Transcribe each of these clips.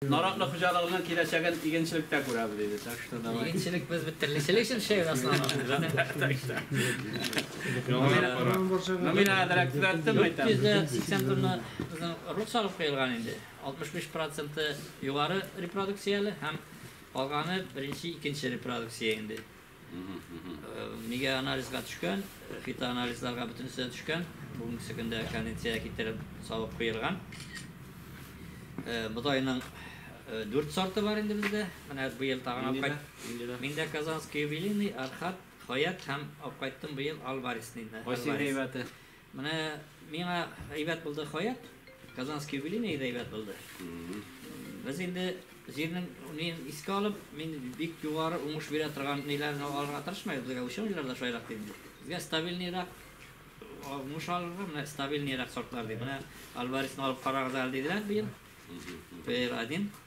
Наратлы хуҗалыгының киләчәген игенчелектә күрәбез иде, так что давай. Игенчелек без бит терлечелек өчен эшләйбез основном. Номина әзрәк төзәттем әйтәм. 480 тонна безнең рут салып куелган инде. 65 проценты югары репродукцияле һәм калганы беренче, икенче репродукция инде. Нигә анализга төшкән, фитоанализларга бөтенесе төшкән. Бүгенгесе көндә кондиция китереп савып куелган. Бодайның дүрт сорты бар инде бездә. Менә быел тагын апкайт. Миндә Казанский юбилейный, Архат, Хаят һәм апкайттым быел Альварес. Кайсы әйбәте? Менә миңа әйбәт булды Хаят, Казанский юбилейный да әйбәт булды. Без инде җирнең нин искә алып, мин бик югары уңыш бирә торган ниләрне алырга тырышмыйбыз, безгә ученыйлар да шулай дип. Безгә стабильныйрак уңыш алырга, менә стабильныйрак сортлар дип. Менә Альваресны алып карагыз әле диделәр быел. Пер один.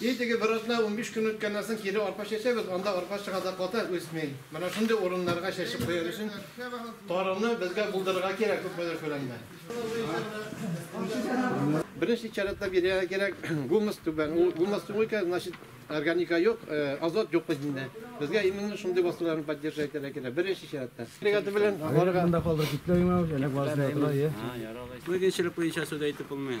И теге бер атна унбиш көн үткәннән соң кире арпа чәчәбез, анда арпа чыга да ката, үсми. Менә шундый урыннарга чәчеп куяр өчен тарыны безгә булдырырга кирәк күпмедер күләмдә. Беренче чиратта бирергә кирәк гумус түбән, ул гумус юк икән, значит органика юк, азот юк бит инде. Безгә именно шундый васыларны поддерживать итәргә кирәк, беренче чиратта. Бригада белән аларга. Монда калдырып китмәгез, әнә квас җыя тора, ие. Яралай. Мөмкинчелек буенча сүз әйтеп булмый.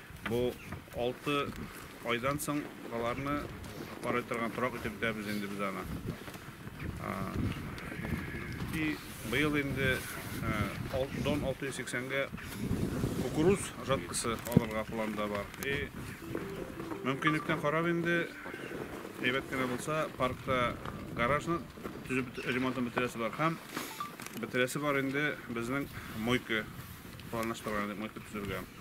Бу алты айдан соң аларны карый торган торак итеп итәбез инде без аны. И быел инде дон 680-гә кукуруз жаткысы алырга планда бар. И мөмкинлектән карап инде әйбәт кенә булса паркта гаражны төзеп ремонтын бетерәсе бар һәм бетерәсе бар инде безнең мойка планлаштырган мойка төзергә.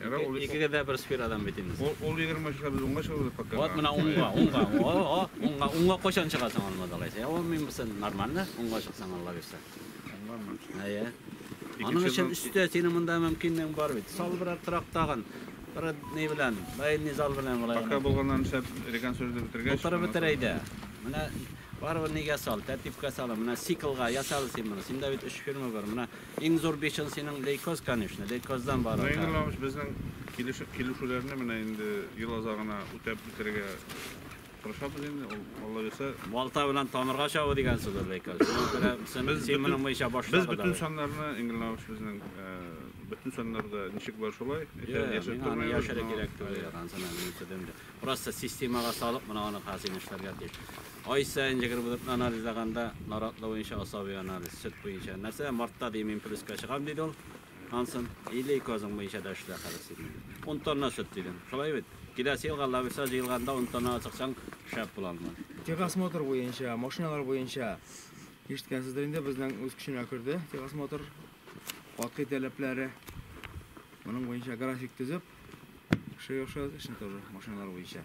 Ярар, ул- Икегә дә бер сферадан бит инде. Ул, ул 20 чыга, без уңга чыгабыз пока. Вот менә уңга, уңга, уңга, о, уңга, уңга кайчан чыгасың алмаз алайса? Я ул мин бусен нормально, уңга чыксаң алла бирсә. Уңганмы? Әйе. Икенче Аның өчен зал- өстә синең монда мөмкинлегең бар бит. Сал бер трак тагын. Бер ни белән, бәйни зал белән болай. Пока гына. булганнан шәп реконструкция бетергәч. Утырып шуннан бетер әйдә. Менә барыбер нигә сал, тәртипкә сал. Менә циклга ясал син моны. Синдә бит өч фирма бар. Менә Иң зур бишен синең лейкоз, конечно, лейкоздан бар. Ну, Инур Иванович, безнең килешеп килешүләрне менә инде ел азагына үтәп бетерергә тырышабыз инде. Ул Алла бирсә. Балта белән тамырга чабу дигән сүз ул лейкоз. Син моның буенча башта Без бөтен саннарны, Инур Иванович, безнең бөтен саннарда ничек бар шулай. Яшереп тормыйбыз. Яшерә кирәк түгел. Просто системага салып, менә аны хәзер эшләргә тиеш. Ай саен җегер булып анализлаганда, наратлы буенча асаби анализ, сөт буенча. Нәрсә, мартта дим, мин плюска чыгам, диде ул. Ансын, или козың буенча да эшлә хәзер син. 10 тонна сөт дидем. Шулай бит. Киләсе елга лависа җыелганда 10 тонна чыксаң, шәп була алмы? Техосмотр буенча, машиналар буенча ишеткәнсездер инде, безнең үз көченә керде техосмотр катгый таләпләре. Моның буенча график төзеп, шея эшен тоже машиналар буенча.